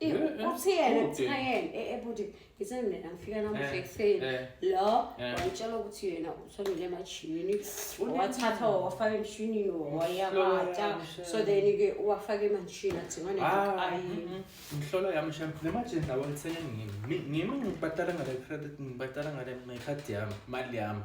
uthiyena kuthiwa yena ebhuti ngithanda mina ngifika namuhla ekuseni lo wayitshela ukuthi yena uthomile emajimini wathatha wawafaka emshinini wayabata so then-ke uwafaka emanshini athinganenhlolo yami sham nemajini lawo ngithenge ngimi ngimi ngibhatala ngale credit ngibhatala ngale ngekhadi yami mali yami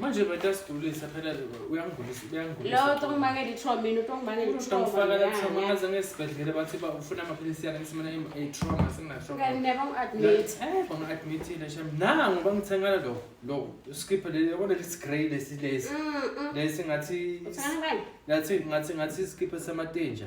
manje betasidulisa phela uyangigulisa uyangiloto ngibangela itrauma mina uto ngibangela itraumafaka latrauma ngaze ngesibhedlela bathi ba ufuna amaphilisi yakhe ngisimane itrauma singatraumabanga-admithile sham nango bangithengela lo lo skiphe yabona lesi grey lesi lesi lesi ngathi ngathi ngathi ngathi iskiphe samatenja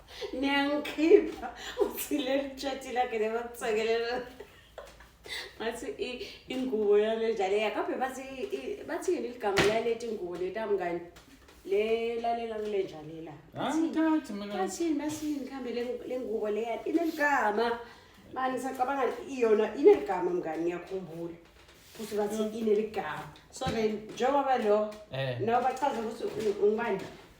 niyangikhipha uthi leli tshati lakhe nebakusekelela ngathi i- ingubo yale njalo yakaphe bathi i- bathi yini ligama laleti ngubo letamngani le lalela kule njalela angithathi mina bathini bathini mkhambe le- le ngubo leya ineligama mani sacabanga iyona ineligama mngani ngiyakhumbula futhi bathi ineligama so then njengoba lo Eh. nawo bachaza ukuthi u- ungubani